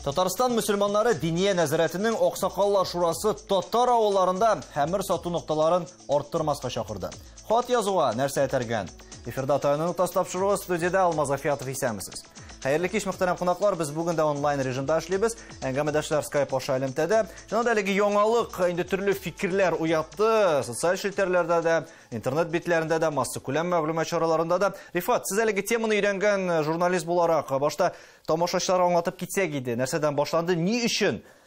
Татарстан мөселманнары диния нәзарәтенең Аксакаллар шурасы татар авылларында хәмер сату нокталарын арттырмаска чакырды. Хат язуга нәрсә этәргән? Эфирда Таяны Нуктас тапшыруы студиядә Алмаз Афиятов исәмсез. Хәерле кич мөхтәрәм кунаклар, без бүген дә онлайн режимда эшлибез. Әңгәмәдәшләр Skype аша элемтәдә. Шунда әлеге яңалык инде төрле фикерләр уятты. Социаль челтәрләрдә дә, интернет битләрендә дә, массакүләм мәгълүмат чараларында да. Рифат, сез әлеге теманы өйрәнгән журналист буларак, башта тамашачылар аңлатып китсәк иде, нәрсәдән башланды, ни өчен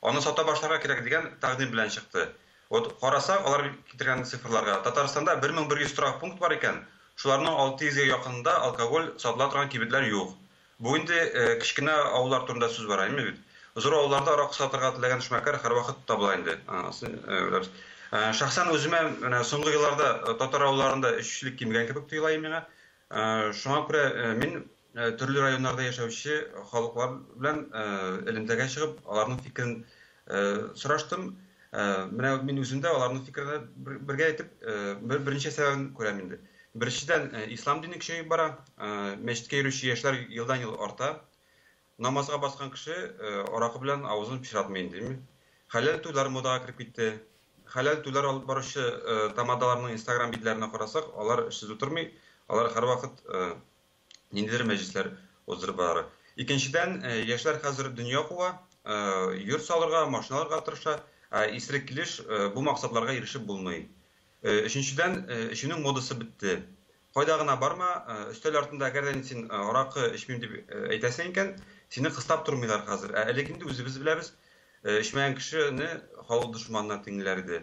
Аны сата башларга кирәк дигән тәкъдим белән чыкты. Вот карасак, алар китергән цифрларга, Татарстанда 1100 торак пункт бар икән, шуларның 600 гә якынында алкоголь сатыла торган кибетләр юк. Бу инде кечкенә авыллар турында сүз бара име бит. Зур авылларда аракы сатырга теләгән эшмәкәр һәрвакыт табыла инде. Шәхсән үземә менә соңгы елларда татар авылларында эчүчелек кимегән кебек тоела миңа. Шуңа күрә мин төрле районнарда яшәүче халыклар белән элемтәгә чыгып, аларның фикерен сораштым. Менә мин үзем дә аларның фикерен бергә әйтеп, бер берничә сәбәбен күрәм инде. Беренчедән, ислам дине көчәеп бара, мәчеткә йөрүче яшьләр елдан-ел арта. Намазга баскан кеше аракы белән авызын пычратмый инде, димме. Хәләл туйлар модага кереп китте. Хәләл туйлар алып баручы тамадаларның инстаграм битләренә карасак, алар эшсез утырмый, алар һәрвакыт ниндидер мәҗлесләр уздырып баралар. Икенчедән, э, яшьләр хәзер дөнья куа, э, йорт салырга, машина алырга тырыша, ә исерек килеш э, бу максатларга ирешеп булмый. Э, өченчедән, э, эчүнең модасы бетте. Кайда гына барма, э, өстәл артында әгәр дә син э, аракы эчмим дип э, әйтәсең икән, сине кыстап тормыйлар хәзер. Ә элек инде үзебез беләбез, э, эчмәгән кешене халык дошманына тиңләр иде.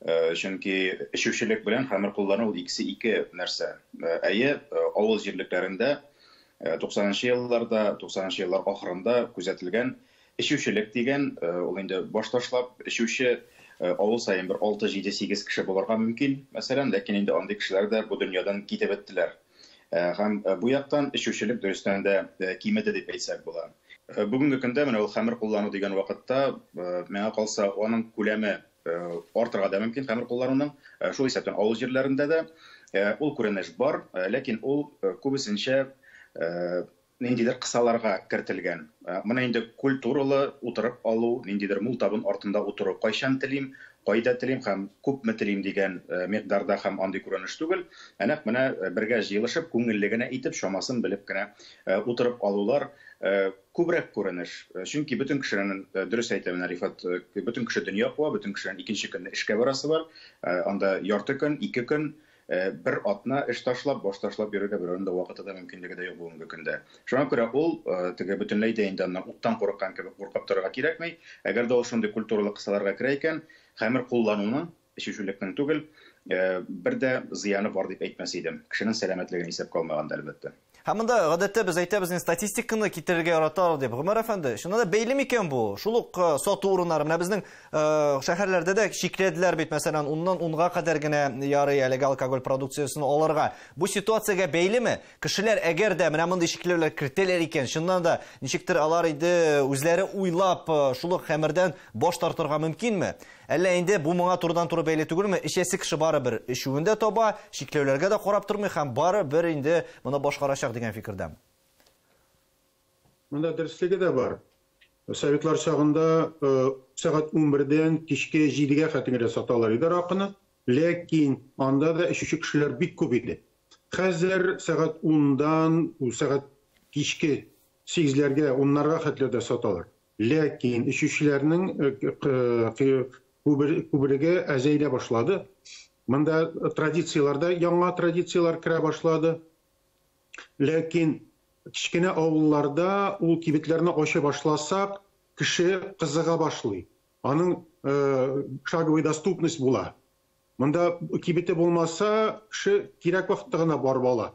Э, чөнки эчүчелек белән хәмер куллану ул икесе ике нәрсә э, әйе э, авыл җирлекләрендә туксанынчы елларда туксанынчы еллар ахырында күзәтелгән эчүчелек дигән ул инде баш ташлап эчүче авыл саен бер алты җиде сигез кеше булырга мөмкин мәсәлән ләкин инде андый кешеләр дә бу дөньядан китеп беттеләр Һәм бу яктан эчүчелек дөрестән дә кимеде дип әйтсәк була. Бүгенге көндә менә ул хәмер куллану дигән вакытта, миңа калса, аның күләме артырга да мөмкин, хәмер куллануның. Шул исәптән авыл җирләрендә дә ул күренеш бар, ләкин ул күбесенчә ниндидер кысаларга кертелгән. Моны инде культуралы утырып алу, ниндидер мул табын артында утыру, кайчан телим, кайда телим һәм күпме телим дигән микъдарда һәм андый күренеш түгел, ә нәкъ менә бергә җыелышып, күңелле генә итеп, чамасын белеп кенә утырып алулар күбрәк күренеш. Чөнки бөтен кешенен, дөрес әйтә менә Рифат, бөтен кеше дөнья куа, бөтен кешенен икенче көнне эшкә барасы бар, анда ярты көн, ике көн, Бер атна эш ташлап, баш ташлап йөрергә берәүнең дә вакыты да, мөмкинлеге дә юк бүгенге көндә. Шуңа күрә ул, теге, бөтенләй дә инде аннан уттан курыккан кебек куркып торырга кирәкми. Әгәр дә ул шундый культуралы кысаларга керә икән, хәмер куллануның, эчүчелекнең түгел, бер дә зыяны бар дип әйтмәс идем. Кешенең сәламәтлеген исәпкә алмаганда, әлбәттә. Һәм монда гадәттә без әйтәбез, не статистиканы китерергә яраталар дип. Гомәр әфәнде, чыннан да бәйле микән бу? Шул ук э, сату урыннары, менә безнең э, шәһәрләрдә дә чикләделәр бит, мәсәлән, уннан унга кадәр генә ярый әлеге алкоголь продукциясен алырга. Бу ситуациягә бәйлеме? Кешеләр әгәр дә менә мондый чикләүләр кертәләр икән, чыннан да ничектер алар инде үзләре уйлап э, шул ук хәмердән баш тартырга мөмкинме? Әллә инде бу моңа турыдан-туры бәйле түгелме, эчәсе кеше барыбер эчүен дә таба, чикләүләргә дә карап тормый һәм бары бер инде моны башкарачак дигән фикердәме? Монда дөреслеге дә бар. Советлар чагында сәгать унбердән кичке җидегә хәтингрә саталар иде аракыны, ләкин анда да эчүче кешеләр бик күп иде. Хәзер сәгать ундан сәгать кичке сигезләргә, уннарга хәтле дә саталар. Ләкин эчүчеләрнең күбрәге әзәелә башлады. Монда традицияләрдә яңа традицияләр керә башлады. Ләкин кечкенә авылларда ул кибетләрне ача башласак, кеше кызыга башлый. Аның шаговый доступность була. Монда кибете булмаса, кеше кирәк вакытта гына барып ала.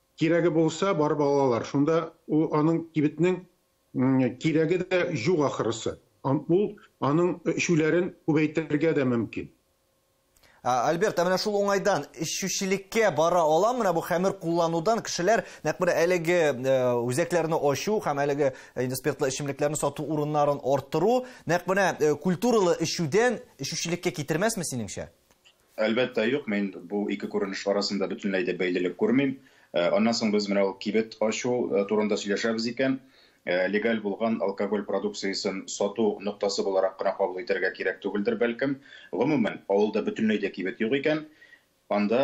Кирәге булса, барып алалар. Шунда ул аның кибетнең кирәге дә юк ахрысы. Ул аның эчүләрен күбәйтергә дә мөмкин. Альберт, ә менә шул уңайдан эчүчелеккә бара ала менә бу хәмер кулланудан кешеләр нәкъ менә әлеге э, үзәкләрне ачу һәм әлеге э, инде спиртлы эчемлекләрне сату урыннарын арттыру нәкъ менә э, культуралы эчүдән эчүчелеккә китермәсме синеңчә? Әлбәттә, юк, мин бу ике күренеш арасында бөтенләй дә бәйлелек күрмим. Аннан соң без менә ул кибет ачу турында сөйләшәбез икән, легаль булган алкоголь продукциясен сату ноктасы буларак кына кабул итәргә кирәк түгелдер, бәлкем. Гомумән, авылда бөтенләй дә кибет юк икән, анда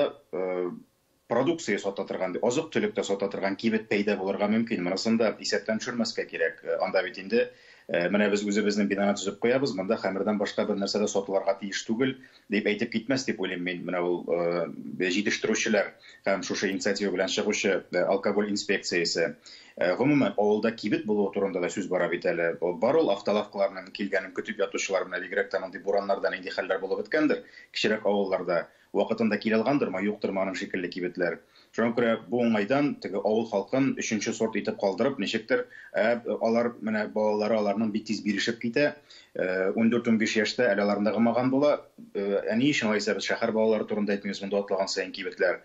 продукция сата торган, азык-төлек тә сата торган кибет пәйда булырга мөмкин. Монысын да исәптән төшермәскә кирәк. Э, анда бит инде э, менә без үзебезнең бинаны төзеп куябыз, монда хәмердән башка бер нәрсә дә сатылырга тиеш түгел, дип әйтеп китмәс дип уйлыйм мин. Менә ул э, җитештерүчеләр һәм шушы инициатива белән чыгучы алкоголь инспекциясе. Гомумән, авылда кибет булуы турында да сүз бара бит әле. Бар ул автолавкаларның килгәнен көтеп ятучылар, менә бигрәк тә мондый бураннарда нинди хәлләр булып беткәндер, кечерәк авылларда. Вакытында килә алгандырмы, юктырмы аның шикелле кибетләр. Шуңа күрә бу уңайдан теге авыл халкын өченче сорт итеп калдырып, ничектер, ә алар, менә балалары аларның бик тиз бирешеп китә, ундүрт-унбиш яшьтә әле аларны гымаган була. Ә ни өчен алайса без шәһәр балалары турында әйтмибез, монда атлаган саен кибетләр.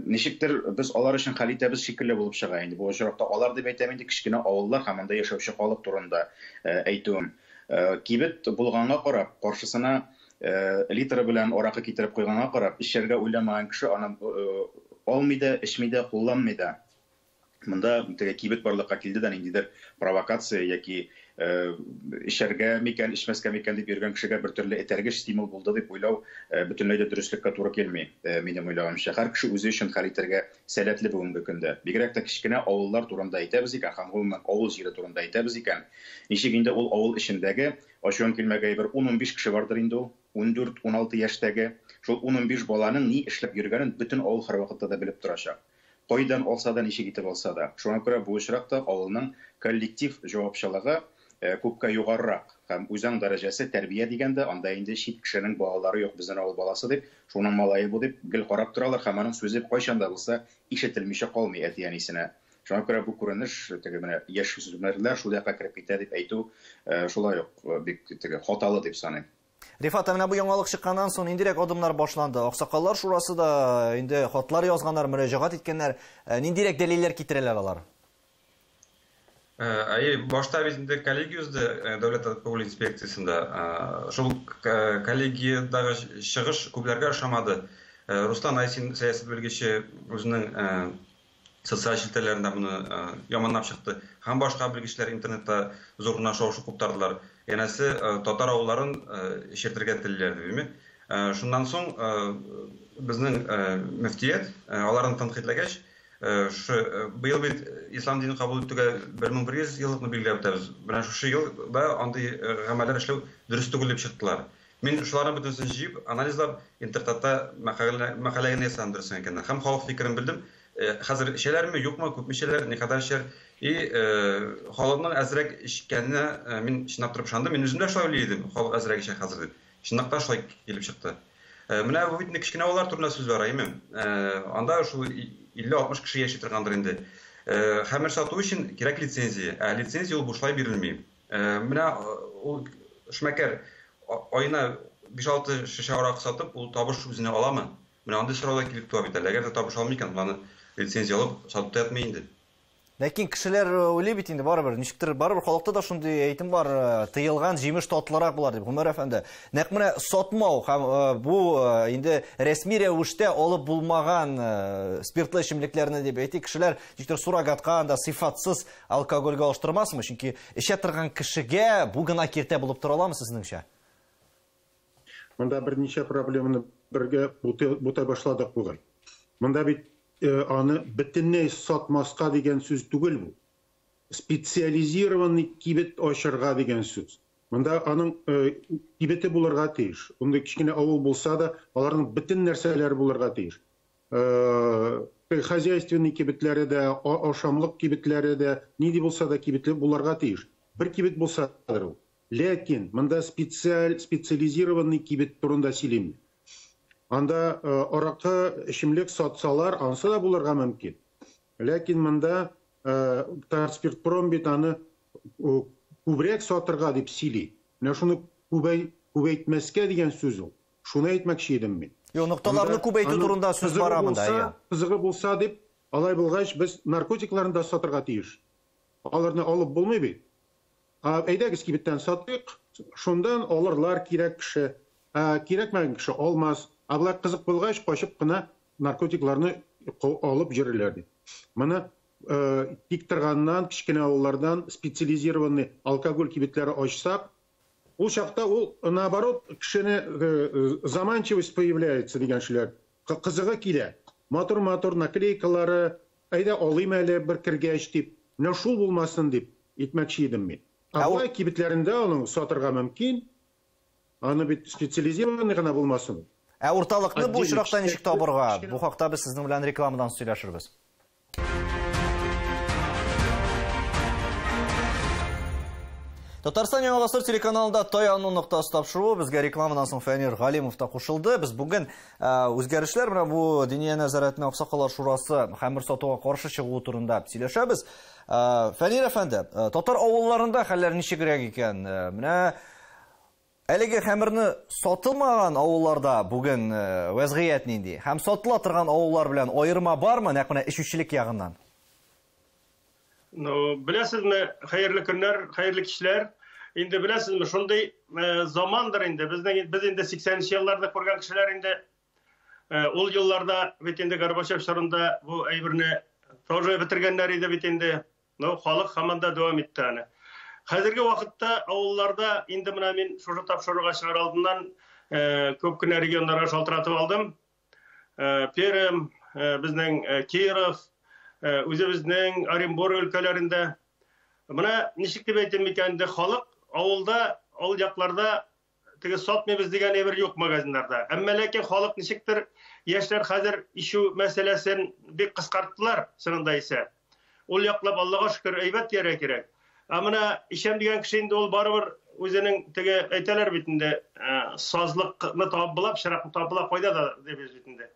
Ничектер, без алар өчен хәл итәбез шикелле булып чыга инде. Бу очракта алар дип әйтәм инде, кечкенә авыллар һәм анда яшәүче халык турында әйтүем. Кибет булганга карап, каршысына Литры белән аракы китереп куйганга карап, эчәргә уйламаган кеше аны алмый да, эчми дә, кулланмый да. Монда теге кибет барлыкка килде дә, ниндидер провокация яки эчәргә микән, эчмәскә микән дип йөргән кешегә бертөрле этәргеч стимул булды дип уйлау бөтенләй дә дөреслеккә туры килми, минем уйлаганымча. Һәр кеше үзе өчен хәл итәргә сәләтле бүгенге көндә. Бигрәк тә кечкенә авыллар турында әйтәбез икән һәм, гомумән, авыл җире турында әйтәбез икән, ничек инде ул авыл эчендәге Ачуың килмәгәе бер ун-унбиш кеше бардыр инде ул, ундүрт-уналты яшьтәге. Шул ун-унбиш баланың ни эшләп йөргәнен бөтен авыл һәрвакытта да белеп торачак. Кайдан алса да, ничек итеп алса да. Шуңа күрә бу очракта авылның коллектив җавапчылыгы күпкә югарырак һәм үзаң дәрәҗәсе тәрбия дигәндә анда инде чит кешенең балалары юк, безнен авыл баласы дип, шуның малае бу дип гел карап торалар һәм аның сүзе кайчан да булса ишетелмичә калмый әти-әнисенә. Шуңа күрә бу күренеш, теге менә яшүсмерләр шул якка кереп китә дип әйтү шулай ук бик теге хаталы дип саныйм. Рифат, ә менә бу яңалык чыкканнан соң ниндирәк адымнар башланды? Аксакаллар шурасы да инде хатлар язганнар, мөрәҗәгать иткәннәр. Ниндирәк дәлилләр китерәләр алар? Әйе, башта без инде коллегия узды дәүләт авыл инспекциясендә. Шул коллегиядәге чыгыш күпләргә ошамады. Руслан Айсин, сәясәт белгече, үзенең социаль челтәрләрендә моны яманлап чыкты һәм башка белгечләр интернетта зур гына шау-шу куптардылар. Янәсе, татар авылларын эчертергә телиләр дибеме? Шуннан соң безнең мөфтият аларны тәнкыйтьләгәч, шушы быел бит ислам динен кабул итүгә 1100 еллыкны билгеләп үтәбез. Менә шушы елда андый гамәлләр эшләү дөрес түгел дип чыктылар. Мин шуларның бөтенесен җыеп, анализлап, Интертатта мәкалә мәкалә генә ясадым, дөресен әйткәндә. Һәм халык фикерен белдем. Э, хәзер эчәләрме, юкмы, күпме эчәләр, никадәр эчәр. И, э, халыкның әзрәк эчкәненә э, мин чынлап торып ышандым. Мин үзем дә шулай уйлый идем, халык әзрәк эчә хәзер дип. Чынлап та шулай килеп чыкты. Э, менә бу бит кечкенә балалар турында сүз бара, әйме? Э, анда шул 50-60 кеше яши торгандыр инде. Э, хәмер сату өчен кирәк лицензия, ә лицензия ул бушлай бирелми. Э, менә э, ул эшмәкәр аена 5-6 шешә арак сатып, ул табыш үзенә аламы? Менә андый сорау да килеп туа бит әле. Әгәр дә табыш алмый икән, аны лицензия алып сатып та ятмый инде. Ләкин кешеләр э, уйлый бит инде барыбер, ничектер барыбер халыкта да шундый әйтем бар, тыелган җимеш татлырак булар дип. Гомәр әфәнде, нәкъ менә сатмау һәм бу инде рәсми рәвештә алып булмаган спиртлы эчемлекләрне дип әйтик, кешеләр ничектер суррогатка анда сыйфатсыз Алкогольгә алыштырмасмы? Чөнки эчә торган кешегә бу гына киртә булып тора аламы сезнеңчә? Монда берничә проблеманы бергә бутай башладык бугай. Монда бит аны бөтенләй сатмаска дигән сүз түгел бу. Специализированный кибет ачырга дигән сүз. Монда аның кибете булырга тиеш. Мондый кечкенә авыл булса да, аларның бөтен нәрсәләре булырга тиеш. Э, хозяйственный кибетләре дә, ашамлык кибетләре дә, нинди булса да кибетле буларга тиеш. Бер кибет булсадыр ул. Ләкин монда специаль, специализированный кибет турында сөйлим. Анда э, аракы, эчемлек сатсалар, ансы да булырга мөмкин. Ләкин монда э, Татспиртпром бит аны э, күбрәк сатырга дип сөйли. Менә шуны күбәйтмәскә дигән сүз ул. Шуны әйтмәкче идем мин. Юк, нокталарны күп әйтү турында сүз бара монда, әйе. Кызыгы булса дип, алай булгач, без наркотикларны да сатырга тиеш. Аларны алып булмый бит. Ә, әйдәгез, кибеттән сатыйк, шундан алырлар кирәк кеше, ә кирәкмәгән кеше алмас. Ә болай кызык булгач, качып кына наркотикларны алып йөрерләр бит. Моны Тиктырганнан, кечкенә авыллардан специализированный алкоголь кибетләре ачсак, Ул чакта ул наоборот кешене заманчивость появляется дигән шуләр. Кызыгы килә. Матур матур наклейкалары, әйдә алыйм әле бер кергәч дип, менә шул булмасын дип итмәкче идем мин. Ә болай кибетләрендә аның сатырга мөмкин, аны бит специализированный гына булмасын ул. Ә урталыкны бу очракта ничек табырга? Бу хакта без сезнең белән рекламадан соң сөйләшербез. Татарстан Яңа Гасыр телеканалында Таяну ноктасы тапшыруы безгә рекламадан соң Фәнир Галимов та кушылды. Без бүген э, үзгәрешләр менә бу Диния нәзарәтенә Аксакалар шурасы хәмер сатуга каршы чыгуы турында сөйләшәбез. Э, Фәнир әфәнде, э, татар авылларында хәлләр ничегрәк икән? Менә Әлеге хәмерне сатылмаган авылларда бүген вәзгыять нинди? Һәм сатыла торган авыллар белән аерма бармы, нәкъ менә эчүчелек ягыннан? Ну, беләсезме, хәерле көннәр, хәерле кичләр. Инде беләсезме, шундый замандыр инде. Безнең без инде 80 нче елларны күргән кешеләр инде ул елларда бит инде Горбачев чорында бу әйберне тоже бетергәннәр иде бит инде. Но халык һаман да дәвам итте аны. Хәзерге вакытта авылларда инде менә мин шушы тапшыруга чыгар алдыннан күп кенә регионнарга шалтыратып алдым. Пермь, безнең Киров, үзебезнең Оренбург өлкәләрендә. Менә ничек дип әйтим микән инде, халык авылда, авыл якларда теге сатмыйбыз дигән әйбер юк магазиннарда. Әмма ләкин халык ничектер яшьләр хәзер ишү мәсьәләсен бик кыскарттылар, чынында исә. Ул яклап Аллага шөкер әйбәт дияр кирәк. Ә менә ишәм дигән кеше инде ул барыбер үзенең теге әйтәләр бит инде э, сазлыкны табып була, пычракны табып була, кайда да дип бит инде.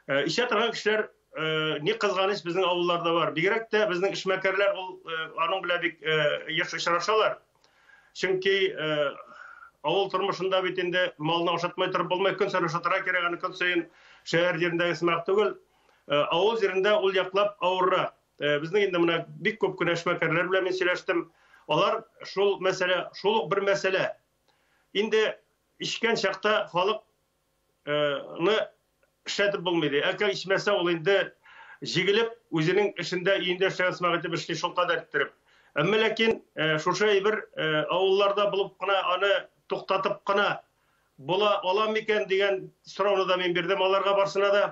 Э, ишә торган кешеләр э, ни кызганыч безнең авылларда бар. Бигрәк тә безнең эшмәкәрләр ул аның белән бик еш очрашалар. Чөнки авыл тормышында бит инде малны ашатмай торып булмый, көн саен ашатырга кирәк, аны көн саен шәһәр җирендәге сымак түгел. Авыл җирендә ул яклап авыррак. Безнең инде менә бик күп кенә эшмәкәрләр белән мин сөйләштем. Алар шул мәсьәлә, шул ук бер мәсьәлә. Инде эчкән чакта халык ны эшләтеп булмый ди. Әгәр ичмәсә, ул инде җигелеп, үзенең эшендә, өендә эшләгән сымак итеп эшли, шул кадәр иттереп. Әмма ләкин шушы әйбер авылларда булып кына аны туктатып кына була ала микән дигән сорауны да мин бирдем аларга барсына да.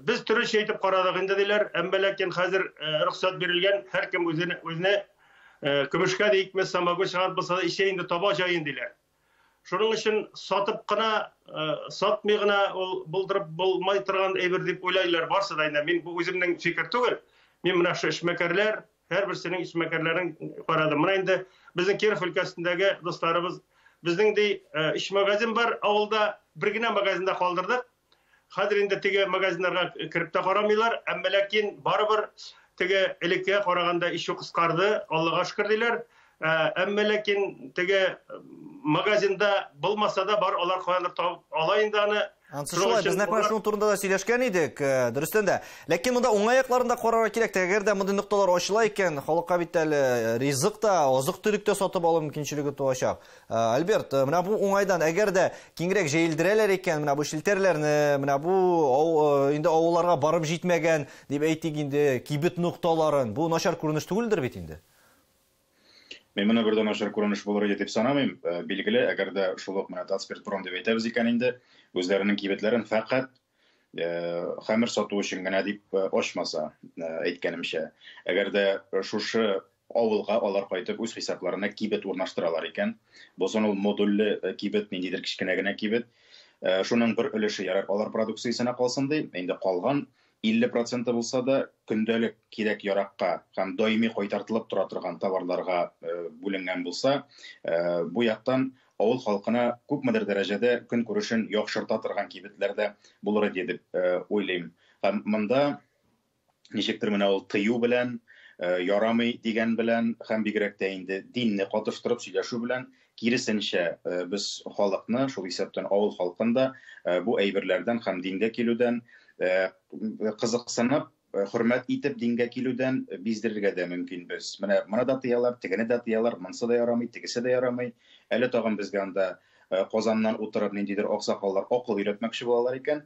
Без төречә итеп карадык инде диләр, әмма ләкин хәзер рөхсәт бирелгән, һәркем үзенә көмешкә дә икмәс, самогон чыгарып булса да ичә инде, таба җаен диләр. Шуның өчен сатып кына, сатмый гына ул булдырып булмай торган әйбер дип уйлайлар барсы да инде. Мин бу үземнең фикер түгел. Мин менә шушы эшмәкәрләр, һәрберсенең эшмәкәрләрен карадым. Менә инде безнең Киров өлкәсендәге дусларыбыз, безнең ди өч магазин бар авылда, бер генә магазинда калдырдык. Хәзер инде теге магазиннарга кереп тә карамыйлар, әмма ләкин барыбер теге элеккегә караганда ишү кыскарды, Аллага шөкер диләр. Ә, әмма ләкин теге магазинда булмаса да бар, алар каяндыр табып ала инде аны. Ансы шулай, без нәкъ менә шуның турында да сөйләшкән идек, э, дөрестән дә. Ләкин монда уңай якларын да карарга кирәк. Әгәр дә мондый нокталар ачыла икән, халыкка бит әле э, ризык та, азык-төлек тә сатып алу мөмкинчелеге туачак. Ә, Альберт, э, менә бу уңайдан, әгәр дә киңрәк җәелдерәләр икән, менә бу челтәрләрне, менә бу ау, э, инде авылларга барып җитмәгән, дип әйтик инде, кибет нокталарын, бу начар күренеш түгелдер бит инде? Мин моны бер дә начар күренеш булыр иде дип санамыйм. Э, билгеле, әгәр дә шул ук менә Татспиртпром дип әйтәбез икән инде, үзләренең кибетләрен фәкать э, хәмер сату өчен генә дип э, ачмаса, әйткәнемчә. Әгәр дә шушы Авылга алар кайтып үз хисапларына кибет урнаштыралар икән. Бозон ул модульле кибет, ниндидер кечкенә генә кибет. Шуның бер өлеше ярар алар продукциясенә калсын ди, инде калган 50 проценты булса да көндәлек кирәк-яракка һәм даими кайтартылып тора торган товарларга бүленгән булса, бу яктан авыл халкына күпмедер дәрәҗәдә көнкүрешен яхшырта торган кибетләр дә булыр иде дип уйлыйм. Һәм монда ничектер менә ул тыю белән, э, ярамый дигән белән һәм бигрәк тә инде динне катыштырып сөйләшү белән киресенчә э, без халыкны, шул исәптән авыл халкын да э, бу әйберләрдән һәм дингә килүдән кызыксынып, хөрмәт итеп дингә килүдән биздерергә дә мөмкин без. Менә моны да тыялар, тегене дә тыялар, монысы да ярамый, тегесе дә ярамый. Әле тагын безгә анда Э, Казаннан утырып ниндидер аксакаллар акыл өйрәтмәкче булалар икән,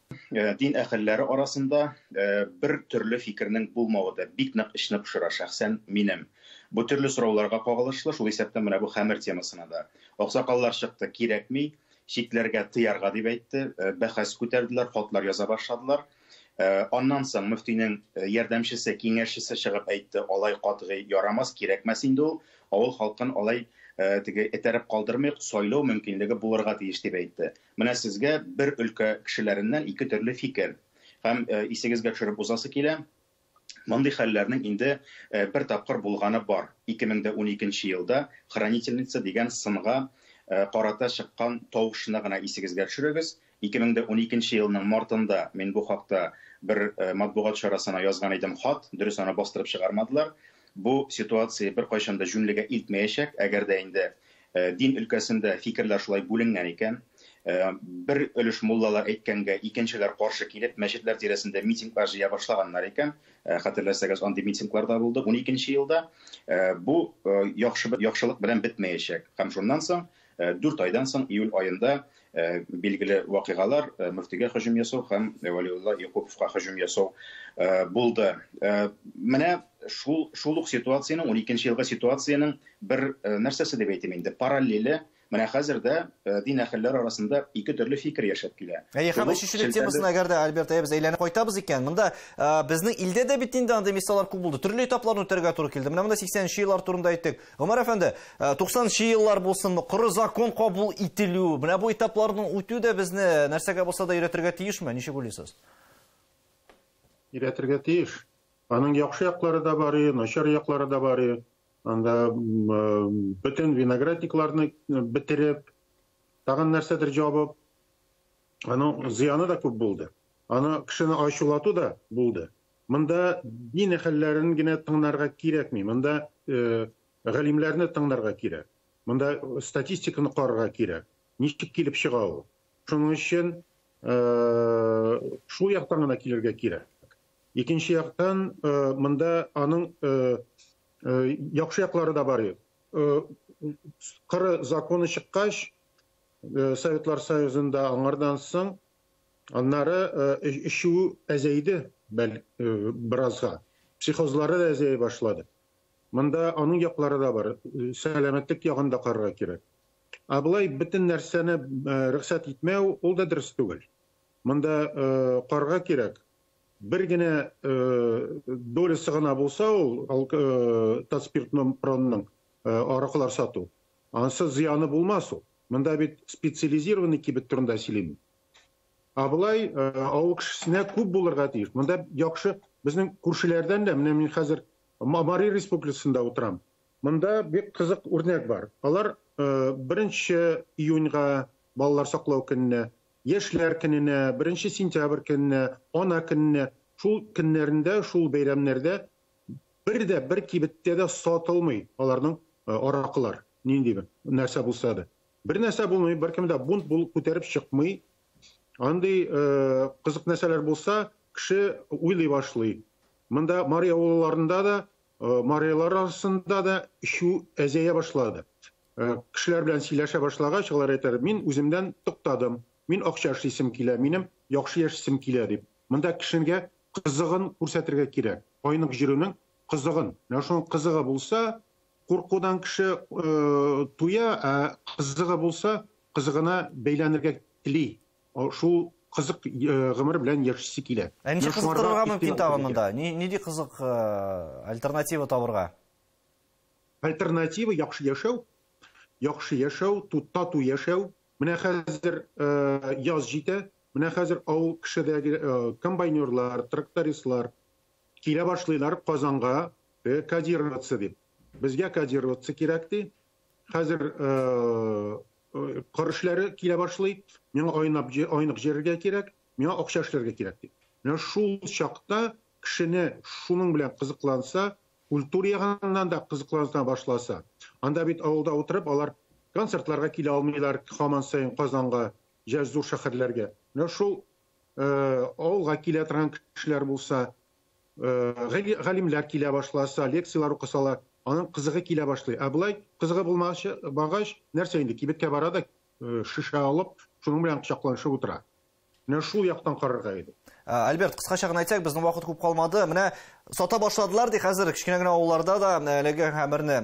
э, дин әһелләре арасында э, бер төрле фикернең булмавы да бик нык эчне пошыра шәхсән минем. Бу төрле сорауларга кагылышлы, шул исәптән менә бу хәмер темасына да. Аксакаллар чыкты, кирәкми, читләргә тыярга дип әйтте, э, бәхәс күтәрделәр, хатлар яза башладылар. Э, аннан соң мөфтинең э, ярдәмчесе, киңәшчесе чыгып әйтте, алай катгый ярамас, кирәкмәс инде ул, авыл халкын алай э, теге этәреп калдырмыйк, сайлау мөмкинлеге булырга тиеш дип әйтте. Менә сезгә бер өлкә кешеләреннән ике төрле фикер. Һәм исегезгә төшереп узасы килә, мондый хәлләрнең инде бер тапкыр булганы бар, 2012 нче елда Хранительница дигән сынга карата чыккан тавышны гына исегезгә төшерегез, 2012 нче елның мартында мин бу хакта бер матбугат чарасына язган идем хат, дөрес аны бастырып чыгармадылар. Бу ситуация беркайчан да җүнлегә илтмәячәк, әгәр дә инде Дин өлкәсендә фикерләр шулай бүленгән икән. Бер өлеш муллалар әйткәнгә, икенчеләр каршы килеп, мәчетләр тирәсендә митинглар җыя башлаганнар икән. Хәтерләсәгез, андый митинглар да булды уникенче елда. Бу яхшы яхшылык белән бетмәячәк. Һәм шуннан соң, дүрт айдан соң, июль аенда Э, билгеле вакыйгалар э, мөфтигә һөҗүм ясау һәм вәлиулла якуповка һөҗүм ясау э, булды менә шул шул ук ситуациянең уникенче елгы ситуациянең бер нәрсәсе дип әйтим инде параллеле менә хәзер дә дин әһелләре арасында ике төрле фикер яшәп килә әйе һәм өченчелек темасына әгәр дә альберт әйе без әйләнеп кайтабыз икән монда безнең илдә дә бит инде андый мисаллар күп булды төрле этапларны үтәргә туры килде менә монда сиксәненче еллар турында әйттек Гомәр әфәнде, 90 э, нчы еллар булсынмы, коры закон кабул ителү, менә бу этапларны үтү дә безне нәрсәгә булса да өйрәтергә тиешме? Ничек уйлыйсыз? Өйрәтергә тиеш. Аның яхшы яклары да бар, начар яклары да бар. Анда э, бөтен виноградникларны э, бетереп, тагын нәрсәдер җабып, аның зыяны да күп булды. Аны кешене ачулату да булды. Монда дин әһелләрен генә тыңнарга кирәкми, монда галимләрне тыңнарга кирәк. Монда статистиканы карарга кирәк. Ничек килеп чыга ул? Шуның өчен шул яктан гына килергә кирәк. Икенче яктан, монда аның яхшы яклары да бар. Кыры законы чыккач, Советлар Союзында аңардан соң Аннары эчү әзәйде, бәл, беразга. Психозлары да әзәй башлады. Монда аның яклары да бар. Сәламәтлек ягын да карарга кирәк. Ә болай бөтен нәрсәне рөхсәт итмәү, ул да дөрес түгел. Монда карарга кирәк. Бер генә долясы гына булса ул тацпиртномпронның аракылар сату, ансы зыяны булмас ул. Монда бит специализированный кибет турында сөйлим. Ә болай авыл кешесенә күп булырга тиеш. Монда яхшы безнең күршеләрдән дә, менә мин хәзер Мамари республикасында утырам. Монда бик кызык үрнәк бар. Алар 1 июньга балалар саклау көненә, яшьләр көненә, 1 сентябрь көненә, ана көненә, шул көннәрендә, шул бәйрәмнәрдә бер дә бер кибеттә дә сатылмый аларның аракылар. Нинди бер нәрсә булса да. Бер нәрсә булмый, беркем дә бунт бул күтәреп чыкмый. Андый э, кызык нәрсәләр булса, кеше уйлый башлый. Монда Мари авылларында да, э, мариялар арасында да шу әзәя башлады. Э, кешеләр белән сөйләшә башлагач, алар әйтәләр, мин үземдән туктадым. Мин акча эшлисем килә, минем яхшы яшисем килә дип. Монда кешегә кызыгын күрсәтергә кирәк. Айнык җиренең кызыгын. Менә шуның кызыгы булса, Куркудан кеше туя, ә кызыгы булса, кызыгына бәйләнергә тели. Шул кызык гомер белән яшисе килә. Ә ничек кызыктырырга мөмкин тагын монда? Нинди кызык альтернатива табырга? Альтернатива яхшы яшәү. Яхшы яшәү, тату яшәү. Менә хәзер яз җитә, менә хәзер авыл кешедәге комбайнерлар, трактористлар, Килә башлыйлар Казанга кодироваться дип. Безгә кодироваться кирәк ди. Хәзер кыр эшләре килә башлый. Миңа айнап айнык җирергә кирәк, миңа акча эшләргә кирәк ди. Менә шул чакта кешене шуның белән кызыкланса, культура ягыннан да кызыклана башласа, анда бит авылда утырып алар концертларга килә алмыйлар, хаман сайын Казанга, җәй зур шәһәрләргә. Менә шул авылга килә торган кешеләр булса, галимләр килә башласа, лекцияләр укысалар, аның кызыгы килә башлый. Ә болай кызыгы булмагач, багач, нәрсә инде, кибеткә бара да, шешә алып, шуның белән кочакланышып утыра. Менә шул яктан карарга иде. Альберт, кыскача гына әйтсәк, безнең вакыт күп калмады. Менә сата башладылар ди хәзер кечкенә генә авылларда да әлеге хәбәрне.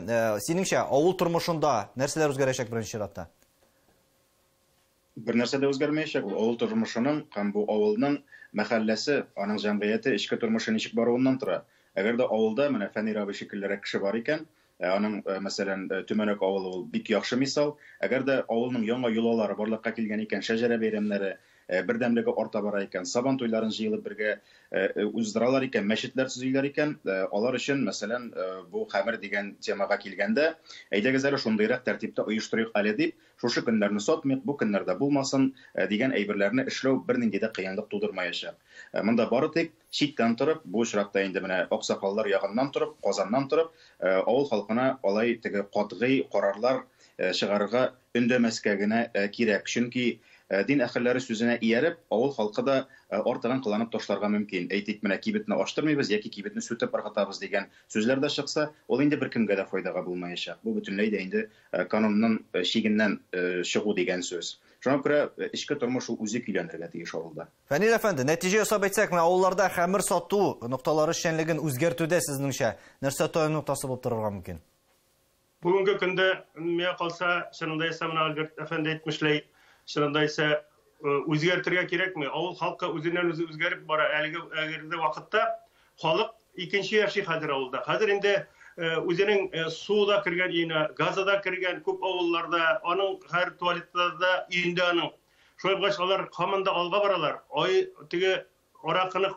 Синеңчә, авыл тормышында нәрсәләр үзгәрәчәк беренче чиратта? Бер нәрсә дә үзгәрмәячәк, ул авыл тормышының һәм бу авылның мәхәлләсе, аның җәмгыяте, эчке тормышы ничек баруыннан тора. Әгәр дә авылда менә Фәнир абый шикеллерәк кеше бар икән, ә аның, мәсәлән, Төмәнәк авылы ул бик яхшы мисал. Әгәр дә авылның яңа йолалары барлыкка килгән икән, шәҗәрә бәйрәмнәре, бердәмлеге арта бара икән, Сабан туйларын җыелып бергә уздыралар икән, мәчетләр төзиләр икән, алар өчен, мәсәлән, бу хәмер дигән темага килгәндә, әйдәгез әле шундыйрак тәртиптә оештырыйк әле дип, Шушы көннәрне сатмыйк, бу көннәр дә булмасын, дигән әйберләрне эшләү бернинди дә кыенлык тудырмаячак. Монда бары тик, читтән торып, бу очракта инде менә аксакаллар ягыннан торып, Казаннан торып, авыл халкына алай теге катгый карарлар чыгарырга өндәмәскә генә кирәк. Чөнки, дин әһелләре сүзенә ияреп, авыл халкы да артыгын кыланып ташларга мөмкин. Әйтик, менә кибетне ачтырмыйбыз яки кибетне сүтеп ыргытабыз, дигән сүзләр дә чыкса, ул инде беркемгә дә файдага булмаячак. Бу бөтенләй дә инде Канунның чигеннән чыгу дигән сүз. Шуңа күрә эчке тормыш ул үзе көйләнергә тиеш авылда. Фәнил әфәнде, нәтиҗә ясап әйтсәк, менә авылларда хәмер сату нокталары эшчәнлеген үзгәртүдә сезнеңчә нәрсә таяну ноктасы булып торырга мөмкин? Бүгенге көндә, миңа калса, чынында исә менә Альберт әфәнде әйтмешләй, чынында исә үзгәртергә кирәкми. Авыл халкы үзеннән-үзе үзгәреп бара. Әлеге әгерде вакытта Халык икенче яши хәзер авылда. Хәзер инде үзенең суы да кергән өенә, газы да кергән күп авылларда, аның хәзер туалеты да өендә аның. Шулай булгач, алар һаман да алга баралар. Ай, теге аракыны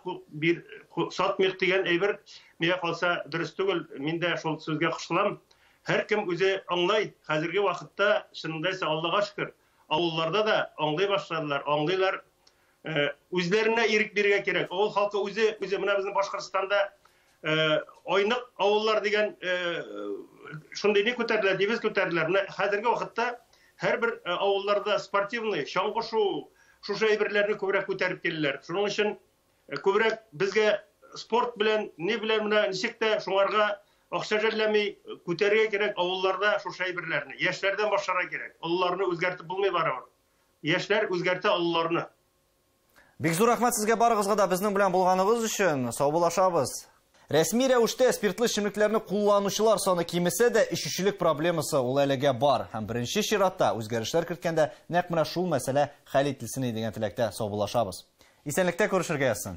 сатмыйк дигән әйбер миңа калса дөрес түгел. Мин дә шул сүзгә кушылам. Һәркем үзе аңлай. Хәзерге вакытта, чынында исә, Аллага шөкер, авылларда да аңлый башладылар, аңлыйлар. Э, үзләренә ирек бирергә кирәк авыл халкы үзе үзе менә безнең башкортстанда э, айнык авыллар дигән э, шундый не күтәрделәр девиз күтәрделәр менә хәзерге вакытта һәрбер авылларда спортивный чаңгы шуу шушы әйберләрне күбрәк күтәреп киләләр шуның өчен күбрәк безгә спорт белән ни белән менә ничек тә шуңарга акча жәлләми күтәрергә кирәк авылларда шушы әйберләрне яшьләрдән башларга кирәк олыларны үзгәртеп булмый барыбер Яшьләр үзгәртә олыларны. Бик зур рәхмәт сезгә барыгызга да безнең белән булганыгыз өчен. Саубуллашабыз. Рәсми рәвештә спиртлы эчемлекләрне кулланучылар саны кимесә дә, эчүчелек проблемасы ул әлегә бар. Һәм беренче чиратта, үзгәрешләр керткәндә, нәкъ менә шул мәсьәлә хәл ителсен иде дигән теләктә саубуллашабыз. Исәнлектә күрешергә язсын.